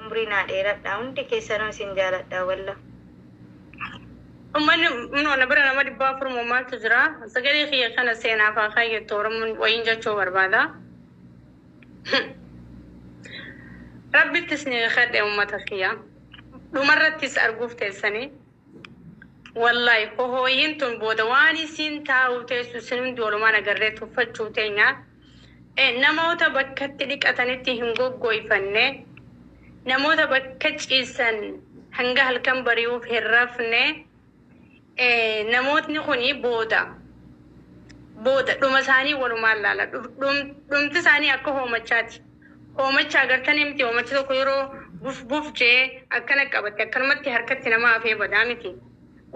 umrii naa dheeradhaa hundi keessanuu isin jaaladhaa wallah. Ummanni no na bira nama dhibba afur moo maaltu jira sagalee kiyya kana seenaaf haa kaayyattu oromoon wayiin jechuu barbaada Rabbitti isni kadhe ummata kiyya dhumarrattis arguuf teessanii Wallaahi hohooyiin tun booda waan isiin taa'uu teessu isin hundi walumaan agarree tuffachuu teenya. Namoota bakka itti dhiqatanitti hin goggooyfanne, namoota bakka ciisan hanga halkan bari'uuf hin rafne, namootni kuni booda booda dhuma isaanii walumaan laala. Dhumti isaanii akka hoomachaati. Hoomacha agartanii miti hoomachi tokko yeroo buf buf jee akkana qabatti akkanumatti harkatti nama hafee badaa miti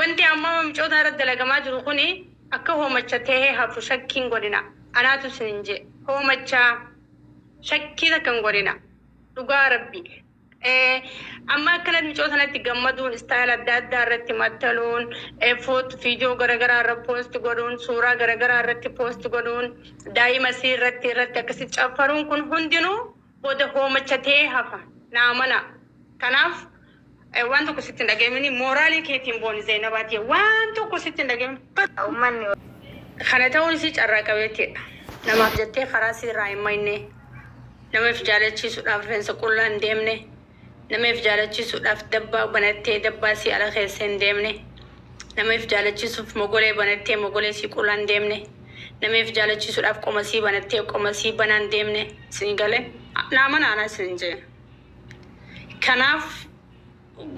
wanti amma mamicootaa irratti dalagamaa jiru kuni akka hoomacha tehe hafu shakkii hin godhina anaatu isinin jee hoomacha shakkii takka hin godhina dhugaa rabbii. Amma akkana micoo sanatti gammaduun istaayil adda addaa irratti maxxanuun foot viidiyoo garaagaraa irra poost godhuun suuraa garaagaraa irratti poost godhuun daa'ima isii irratti irratti akkasi caffaruun kun hundinuu booda hoomacha ta'ee hafa naa mana kanaaf waan tokko sitti hin dhaga'amini mooraalii keetiin booni zeenabaatii waan tokko sitti hin dhaga'amini ummanni kana ta'uun isii carraa qabeettiidha namaaf jettee karaa isii irraa hin maynee. Nama if jaalachiisuudhaaf rifeensa qullaa hin deemne, nama if jaalachiisuudhaaf dabbaa banattee dabbaa isii ala keessa hin deemne, nama if jaalachiisuuf mogolee banattee mogolee isii qullaa hin deemne, nama if jaalachiisuudhaaf qoma isii banattee qoma isii banaa hin deemne. Isinii galee? Naa amanaa anaa isiniin jee. Kanaaf.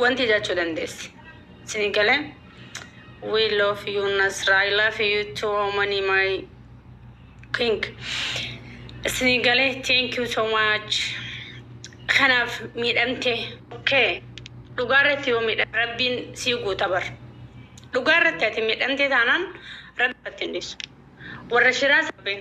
Wanti jachu dandesi sini gale we love you nasra i love you too omani my king sini gale thank you so much kanaf midhamte ok dhugaa irratti yoo midhame rabbiin sii guuta bar dhugaa irratti ati midhamte taanan rabbiin irratti hin dhisu warra shiraa sabbeen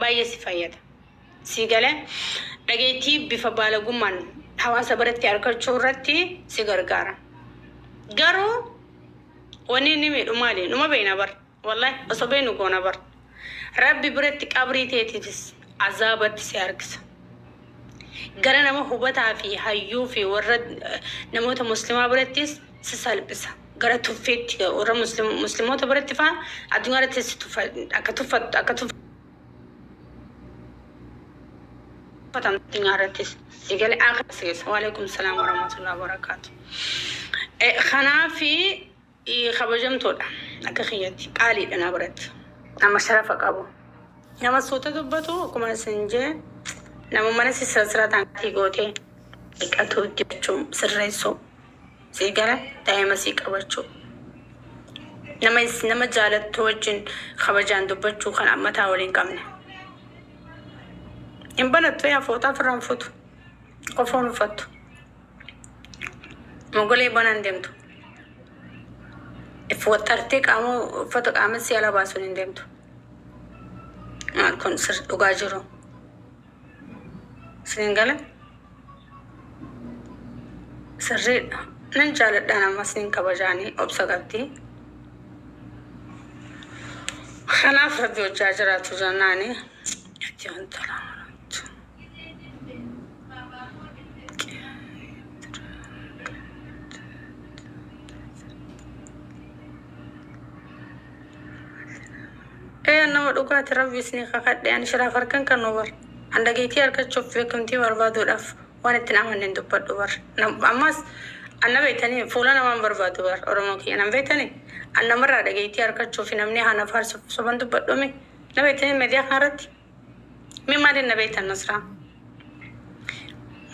baay'ee si fayyada. Sii galee? Dhageettii bifa baalagummaan hawaasa biratti arkachuu irratti si gargaara. Garuu wanni inni miidhu maali? Numa beeyna bar. Wallahi osoo beeynu goona bar. Rabbi biratti qabrii teetiifis azaabatti si harkisa. Gara nama hubataa fi hayyuu fi warra namoota muslimaa birattis si salphisa. Gara tuffiitti warra muslim- muslimoota biratti faa addunyaa irratti si tuffa- akka tuffattu akka tuffa- tuffatamtu addunyaa irrattis si gale aakhira si geessa. Waalaikum salaam warahmatullahi wabarakaatu. Eh, Kanaafi eh, kabajamtoodha akka kiyyatti qaaliidha na biratti nama sharafa qabu. Nama suuta dubbatu akkuma isin jee nama mana sisirasirataan gootee dhiqatuu jechuun sirreessuu. sii gara daa'ima sii qabachuu nama is- nama jaalattu wajjin kabajaan dubbachuu kan ammataa waliin qabne hin banattu yaa fooxaa ofirraa hin futu qofa hin uffattu mogolee banaan deemtu if waxxartee qaama uffata qaama sii ala baasuun hin deemtu maal kun sir dhugaa jiru Siin gale sirriidha. Nan jaaladhaan amma siin kabajaanii obsa qabdi. Kanaaf rabbi hojjaa jiraatu jennaani itti hontolaa maramtu. Ee an nama dhugaati rabbi isni kakadhe an shiraaf harkan kannu bar an dhageetii arkachuuf beekamtii barbaaduudhaaf waan ittin amanne hin dubbadhu bar nam ammaas an na beektanii fuula namaa hin barbaadu bar oromoo kiyya nan beektanii an namarraa dhageetii arkachuufi namni haa na faarsuuf soban dubbadhu mi na beektanii mediyaa kana irratti mi maaliin na beektan nasraa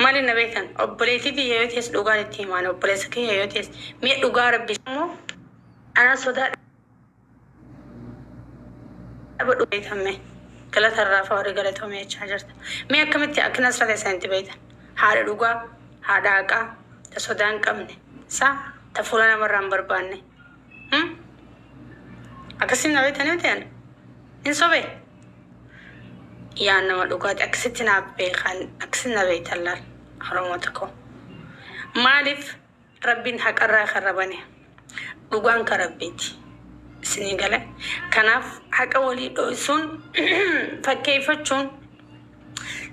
maaliin na beektan obboleetii tiyya yoo tees dhugaan itti himaan obboleessa kiyya yoo tees mee dhugaa rabbi immoo Anaa sodaa dhaba dhuga betan mee galata irraa fa wari galatomi jechaa jirta mee akkamitti akka nasra tesan itti betan haadha dhugaa haadha haqaa ta sodaa hin qabne sa ta fuula nama irraa hin barbaanne hmm? akkasitti na betan miti an hin sobe yaa nama dhugaati akkasitti naaf beekan akkasitti na beetan laal oromoo tokko maaliif Rabbiin haqarraa karra bane. Dhugaan ka Rabbiiti. Isinii galee? Kanaaf haqa walii dhooysuun, fakkeeyfachuun,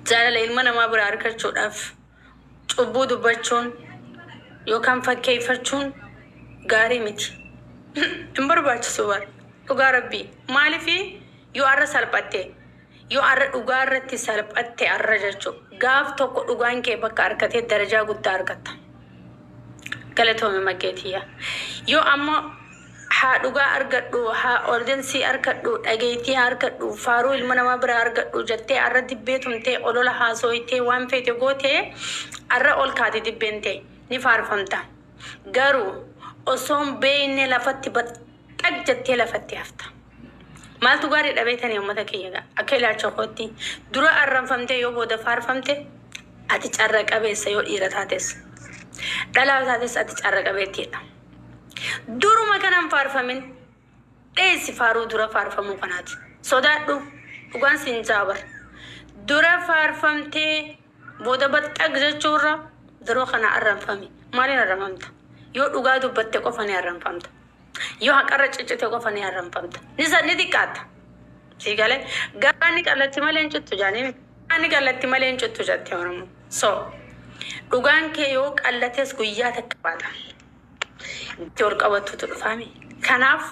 jaalala ilma namaa biraa argachuudhaaf cubbuu dubbachuun yookaan fakkeeyfachuun gaarii miti. Hin barbaachisu bar. Dhugaa Rabbii. Maaliif yoo arra salphatte? Yoo arra dhugaa irratti salphatte arra jechu gaaf tokko dhugaan kee bakka arkatee darajaa guddaa arkatta. Galatoomi maggee tiyya. Yoo ammo haa dhugaa argadhu, haa ordensii arkadhu, dhageettii haa arkadhu, faaruu ilma namaa biraa argadhu jattee arra dibbee tumtee olola haasooytee waan feete goote arra ol kaate dibbeen tee ni faarfamta. Garuu osoon beeyne lafatti bat. xag jattee lafatti hafta. Maaltu gaariidha beektanii ummata kiyya gaa? Akka ilaalcha kootti dura arranfamtee yoo booda faarfamte ati carra qabeessa yoo dhiira taates. Dhalaa yoo taates ati carra qabeettiidha. Duruma kana hin faarfamin. Dheessi faaruu dura faarfamuu kanaati. Sodaadhu dhugaan siin jaa bar. Dura faarfamtee booda baxxag jechuurra dura kana arranfami. Maaliin arranfamta? Yoo dhugaa dubbatte qofa ni arranfamta. Yoo haqarra ciccite qofa ni arramfamta. Ni sa- ni xiqqaatta. Sii galee garaa ni qallatti malee hin cittu jaanii miti. Garaa ni qallatti malee hin cittu jatti Oromoo. So dhugaan kee yoo qallates guyyaa takka baata. Itti ol qabattutu dhufaa miti. Kanaaf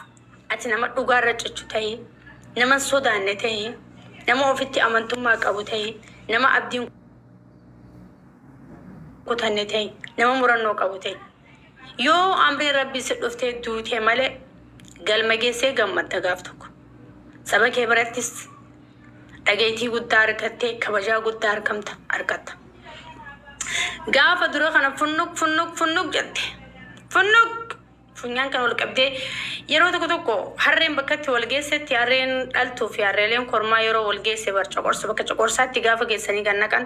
ati nama dhugaarra ciccu ta'ii, nama hin sodaanne ta'ii, nama ofitti amantummaa qabu ta'ii, nama abdiin kutanne ta'ii, nama murannoo qabu ta'ii. Yoo amriin Rabbii si dhuftee duute malee galma geessee gammadda gaaf tokko. Saba kee birattis dhageettii guddaa argattee kabajaa guddaa argamta argatta. Gaafa dura kana funnuq funnuq funnuq jette. Funnuq! Funyaan kan wal qabdee yeroo tokko tokko harreen bakkatti wal geessetti harreen dhaltuu fi harreeleen kormaa yeroo wal geesse bar coqorsu bakka coqorsaatti gaafa geessanii kan naqan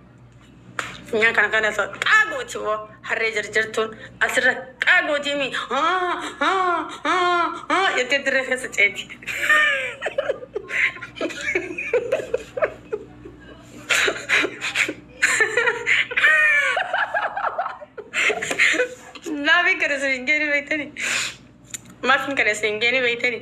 Nyaa kana kana so qaa gooti wo harree jarjartuun asirra qaa gootii mi haa haa haa haa jettee dirree keessa ceeti. Maafin kana isin hin geeni beektani? Maafin kana isin hin geeni beektani?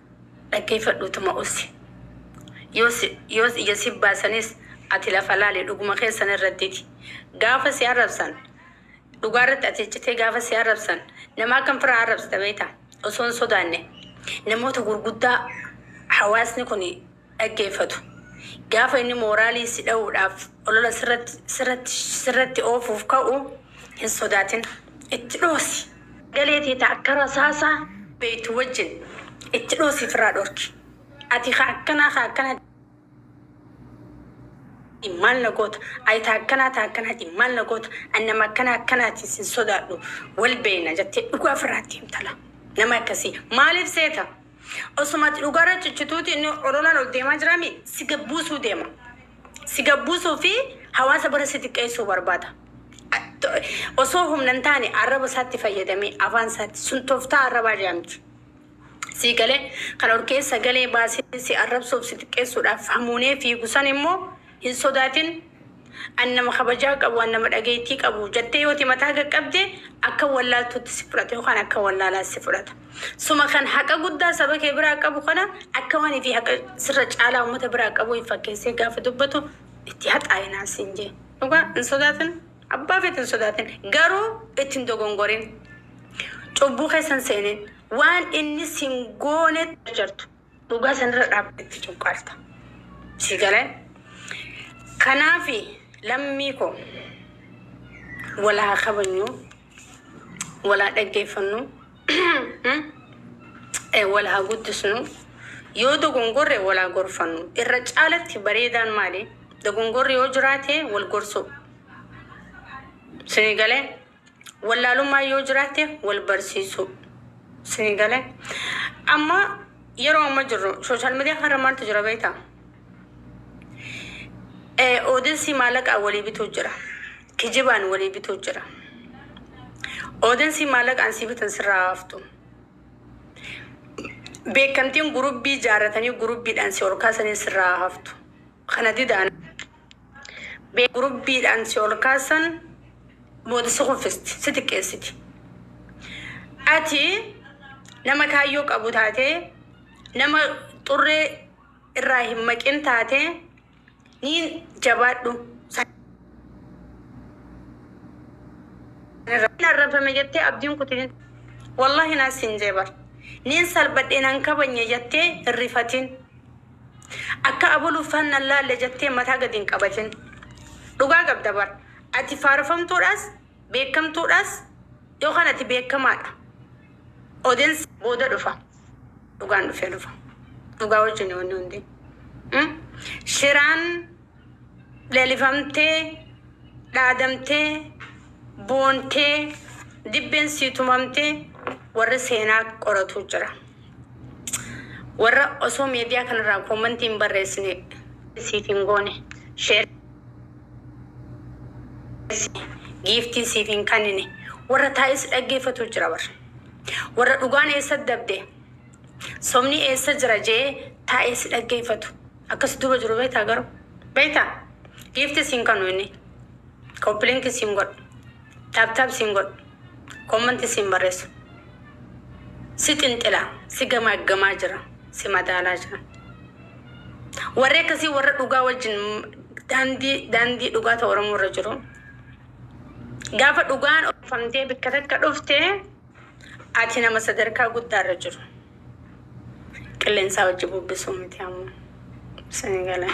Dhaggeeffadhu utuma ussi. Yoos yoos ija si baasanis ati lafa laali dhuguma kee sana irrattiti. Gaafa si arrabsan dhugaa irratti ati cichitee gaafa si arrabsan nama akkam fira arrabsita beekta osoo hin sodaanne namoota gurguddaa hawaasni kuni dhaggeeffatu. Gaafa inni mooraalii si dhahuudhaaf olola sirratti sirratti sirratti oofuuf ka'u hin sodaatin. Itti dhoosi. Sagalee tee ta akka rasaasaa beeytu wajjin itti dhoosi ifirraa dhorki. Ati ka akkanaa ka akkanaati maal na goota? Ati ta akkanaa ta akkanaati maal na goota? Ani nama akkanaa akkanaati sin sodaadhu. Wal beeyna jettee dhugaa ifirraa itti himta laa. Nama akkasii maaliif seeta? Osuma ati dhugaarra cichituuti inni ololaan ol deemaa jiraami si gad buusuu deema. Si gad buusuu fi hawaasa bira si xiqqeessuu barbaada. A- to- Osoo humna hin taane arraba isaatti fayyadamee afaan isaatti sun tooftaa arrabaa jedhamti. Sii galee kan ol keessa galee baasee si arrabsuuf si xiqqeessuudhaaf hamuunee fiigu san immoo hin sodaatin An nama kabajaa qabu, an nama dhageettii qabu jattee yoo timataa qaqqabde akka wallaaltuutti si fudhata yookaan akka wallaalaa si fudhata. Suma kan haqa guddaa saba kee biraa qabu kana akka waan ifii haqa sirra caalaa ummata biraa qabuu if fakkeessee gaafa dubbatu itti haxaa'inaa siin jee. Dhugaa hin sodaatin abbaa feete hin sodaatin garuu itti hin dogongorin. Cubbuu keessa hin seenin. Waan inni sin goonetti jarjartu. Dhugaa sanirra dhaabdee itti cuqqaalta. Sii galee? Kanaafi lammii koo wal haa kabajnu, wal haa dhaggeeffannu, wal haa guddisnu, yoo dogongorre wal haa gorfannu. Irra caalatti bareedaan maali? Dogongorri yoo jiraate wal gorsuu. Sii galee? Wallaalummaan yoo jiraatte wal barsiisuu. Isinii gale? Amma yeroo amma jirru social media kanarra maaltu jira beekta? Eh, Oodensii maallaqaan walii bituu jira. Kijibaan walii bituu jira. Oodensii maallaqaan sii bitan sirraa haftu. Beekamtiin gurubbii jaarratanii gurubbiidhaan si ol kaasanii sirraa haftu. Kana didaan. B. Gurubbiidhaan si ol kaasan booda si kuffisti, si xiqqeessiti. Ati nama kaayyoo qabu taatee, nama xurree irraa hin maqin taatee ni jabaadhu. Hin arrabsame jettee abdiin kutin. Wallahi naas sin jee bar. Nin salbadhe nan kabanye jettee hin rifatin. Akka abol uffaan nan laalle jettee mataa gadi hin qabatin. Dhugaa qabda bar. Ati faarfamtuudhaas, beekamtuudhaas yookaan ati beekamaadha. Odens booda dhufa. Dhugaan dhufee dhufa. Dhugaa wajjini wanni hundi. Shiraan. Leelifamtee, dhaadamtee, boontee, dibbeen sii tumamte warri seenaa qoratu jira. Warra osoo meediyaa kanarraa koomantii hin barreessine siif hin goone, sheer giiftii siif hin kannine, warra taa'is dhaggeeffatu jira bar. Warra dhugaan eessa dabde, sobni eessa jira jee taa'ee si dhaggeeffatu. Akka si duba jiru beektaa garuu? Beektaa? Giifti siin kanu inni. Koppilinki siin godhu. Taap taap siin godhu. Koommanti siin barreessu. Si xinxila. Si gamaaggamaa jira. Si madaalaa jira. Warri akkasii warra dhugaa wajjin daandii daandii dhugaa ta'u Oromoo irra jiru. Gaafa dhugaan oofamtee bikka takka dhufte Ati nama sadarkaa guddaa irra jiru qilleensaa wajji bubbisuu miti ammoo. Sini gale.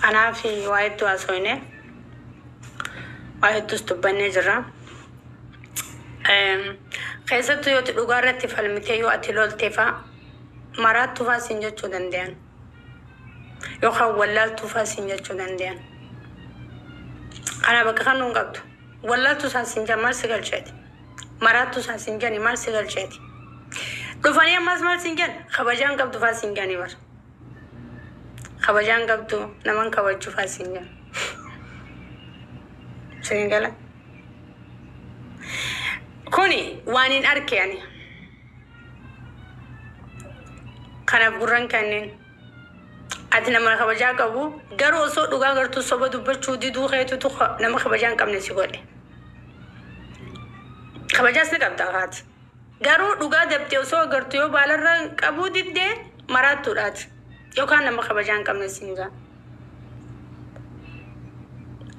Kanaaf waa hedduu haasofne. Waa hedduus dubbannee jirra. Eem, Keessattuu yoo ati dhugaa irratti falmitee yoo ati loltee faa maraattuu faa siin jechuu danda'an. Yookaan wallaaltuu faa siin jechuu danda'an. Kana bakka kan nuun qabdu. Wallaaltuu isaan siin jedhan maal si galcheeti? Maraattuu san sin jani mal si galcheeti. Dhufanii ammas mal sin jan kabajaan qabdu faa sin jani bar. Kabajaan qabdu naman kabajju faa sin jan. Sin gala. Kuni waan hin arke ani. Kanaaf gurran kanneen. Ati nama kabajaa qabu garuu osoo dhugaa gartuu soba dubbachuu diduu keetutu ka- nama kabajaa hin qabne si godhe. Kabajaas ni qabda kaati. Garuu dhugaa dabte osoo agartu yoo baalarra qabuu didde maraattuudhaati. Yookaan nama kabajaa hin qabne siin ja'a.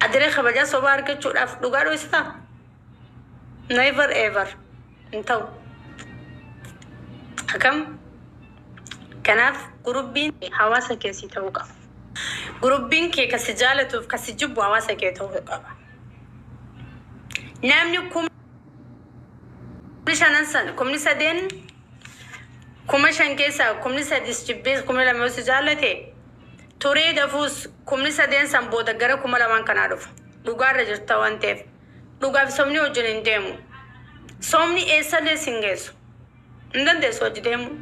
Adiree kabajaa sobaa argachuudhaaf dhugaa dhoysitaa? Never ever. hin ta'u. Akam kanaaf gurubbiin hawaasa kee sii ta'uu qaba. Gurubbiin kee ka si jaalatuuf ka si jibbu hawaasa kee ta'uu qaba. Namni kumni shanan san kumni sadeen kuma shan keessaa kumni sadis jibbees kumni lama yoo si jaallate turee dafuus kumni sadeen san booda gara kuma lamaan kanaa dhufa. Dhugaarra jirta waan ta'eef. Dhugaa fi sobni wajjin hin deemu. Sobni eessallee sin geessu. Hin dandeessu wajji deemuu.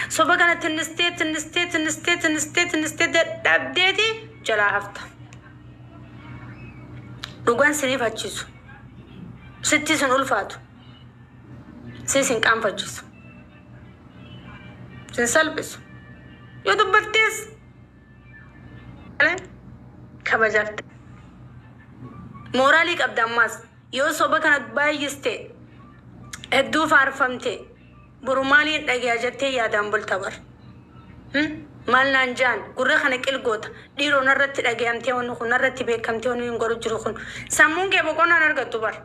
Soba kana tinnistee tinnistee tinnistee tinnistee tinnistee dadhabdeeti jalaa hafta. Dhugaan sin hifachiisu. Sitti sin ulfaatu. Si sin qaanfachiisu. Sin salphisu. Yoo dubbattees kabajafte mooraalii qabda ammaas yoo soba kana baay'iste hedduu faarfamte boru maaliin dhageeya jettee yaadaan bulta bar maal naan jaan gurra kana qilgoota dhiiroo narratti dhageeyamtee wanni kun narratti beekamtee wanni hin godhu jiru kun sammuun kee boqonnaan argattu bar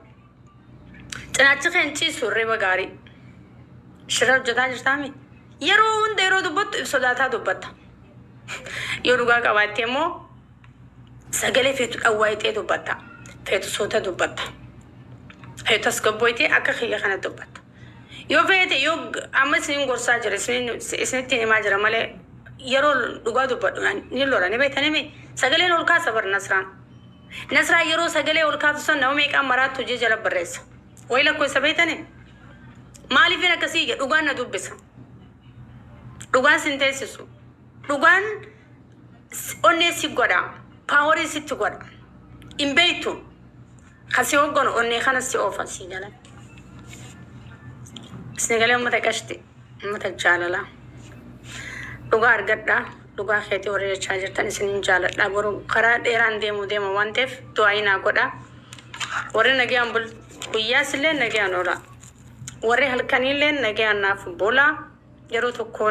Cinaachi kee hin ciisu hirriba gaarii. Shira hojjetaa jirtaa mi? Yeroo hunda yeroo dubbattu if sodaataa dubbatta. Yoo dhugaa qabaatte immoo sagalee feetu dhawwaayitee dubbatta. Feetu suuta dubbatta. Feetu tasgabbooyitee akka kiyya kana dubbatta. Yoo feete yoo amma isiniin gorsaa jira isiniin- isinittiin himaa jira malee yeroo dhugaa dubbadhu ani ni lola ni beektanii mi? Sagaleen ol kaasa bar Nasraan. Nasraa yeroo sagalee ol kaaftu san nama meeqaan maraattu jee jala barreessa. Wayi lakkoofsa beektanii? Maaliifin akkasii jedha dhugaan na dubbisa. Dhugaan sin teessisu. Dhugaan s- onnee si godha. Paaworii sitti godha. Hin beektu. Kan si hoogganu onnee kana si oofa si jala. Isin galee uummata qashti. Ummata jaalala dhugaa argadhaa dhugaa keetii warri jechaa jirtan isinin jaaladhaa boru karaa dheeraan deemuu deema waan ta'eef du'aayii naa godhaa warri nagayaan bul guyyaas illee nagayaan oolaa warri halkanii illee nagayaan naaf bulaa yeroo tokkoo